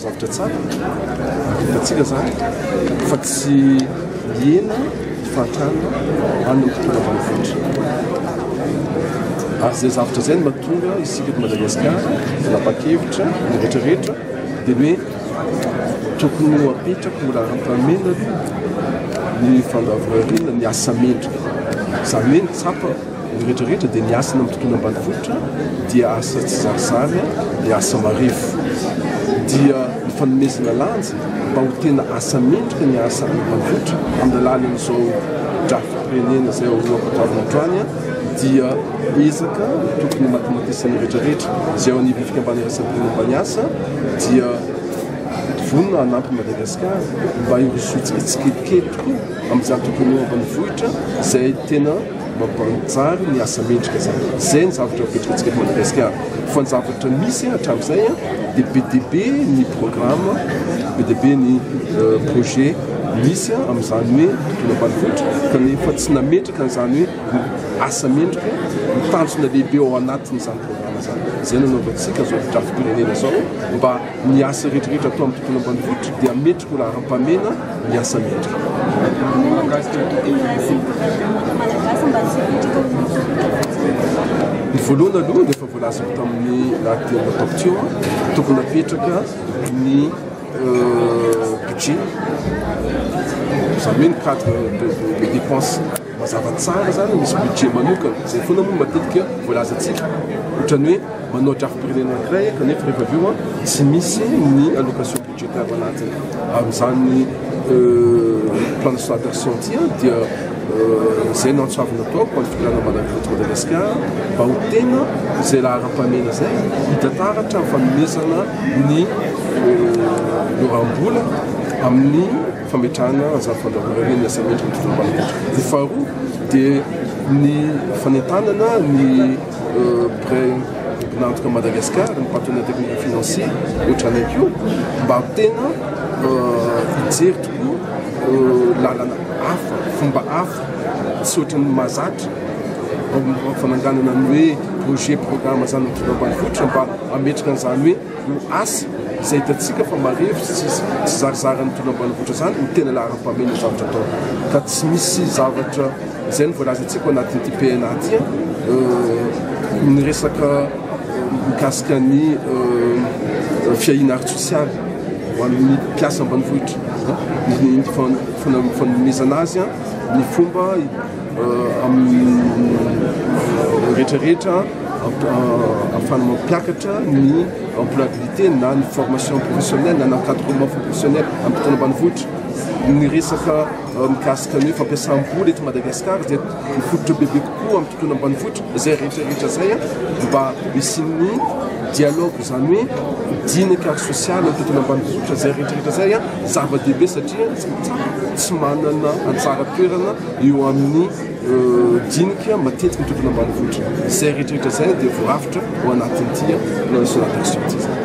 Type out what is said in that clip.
zavatra tsara atsika zany fa tsy hiena fahatrana an'nytnavanivohitra ary zay zavatra zay ny matonga isika eto madagasikara napa-kevitra ny retraretra Dia hoe tokony ho apetraka ho laharam-pahamehana aloha ny fandavorariana ny asa mendrika. Izany hoe ny tsapa ny rehetra rehetra dia ny asa eny amin'ny tontolo ambanivohitra dia asa tsizarizary, dia asa marefo. Dia ny fanomezana lanja mba ho tena asa mendrika ny asa any ambanivohitra amin'ny alalan'izao drafi-pirenena izay ho ampahafantaro androany. dia ezaka tokony homatimatisan'ny rehetra rehetra izay ao anivon'ny fikambanana iraisam-pirenena mpaniasa dia vonona hanampy Madagasikara mba hirosoantsika tsikelikely tokoa amin'izany tontolo eo ambanivohitra izay tena mampanjary ny asa mendrika izany. Izay ny zavatra mipetrakantsika eto Madagasikara. Fa ny zavatra misy hatramin'izay dia be dia be ny programme, be dia be ny euh, projet misy amin'izany hoe tontolo ambanivohitra kanefa tsy nametraka Izany hoe asa mendrika ny tanjona lehibe ao anatin'izany programa izany. Izay no anaovantsika izao fotodrafipirenena izao mba ny asa rehetra rehetra atao amin'ny tontolo ambanivohitra dia mendrika ho laharam-pahamena ny asa mendrika. Inona no andraikitra tokony raisina ireo mpianatra malagasy mba tsy hipetraka ho masoivoho? Ny voalohany aloha dia efa voalazako tamin'ny lahateny natao teo, tokony hapetraka ny. Budget, izany hoe ny cadre des dépenses. Mazava tsara izany, misy budget manokana, izay foana moa no matetika voalazantsika. Ohatran'ny hoe manao drafi-pirenena anankiray kanefa rehefa avy eo tsy misy ny allocation budgétaire anatiny. Amin'izany plan de soins d'action ity dia. izay no antso avy nataoko ho an'ny fitondrana malagasy eto Madagasikara mba ho tena izay laharam-pahamehana izay hita taratra amin'ny fanomezana ny loram-bola amin'ny fametrahana ny zary fandrahonana ny asam-mendrika ny fitondrana malagasy. Ny faharoa dia ny fanentanana ny Près mpinantoka Madagascar ny partenaire technique financier ohatranay koa mba tena hijery tokoa lalana hafa fomba hafa tsy ohatran'ny mahazatra fananganana ny hoe projet programme zany mitondra ambanivohitra mba ametraka an'izany hoe ho asa izay hitantsika fa marefo sy tsy zarizary mitondra ambanivohitra zany no tena laharam-pahamehana zavatra atao ka tsy misy zavatra Izay no voalazantsika ao anatin'ity PNA ity, ny resaka mikasika ny fiahiana ara-tsosialy ho an'ny mpiasa ambanivohitra, ny fanomezana azy ny fomba amin'ny rehetra rehetra ahafahana mampiakatra ny employabilité na ny formation professionnelle na ny encadrement professionnel amin'ny mpitondrambanivohitra, ny resaka mikasika ny hoe fampiasam-bola eto Madagasikara dia mifototra bebe kokoa amin'ny tontolo ambanivohitra izay rehetrarehetra izay mba hisian'ny dialogue izany hoe dinika sosialy amin'ny tontolo ambanivohitra izay rehetrarehetra izay a zava-dehibe satria tsy manana anjara toerana eo amin'ny dinika matetiky ny tontolo ambanivohitra izay rehetrarehetra izay dia voarafitra ho anatin'ity plan de solatexio ity izany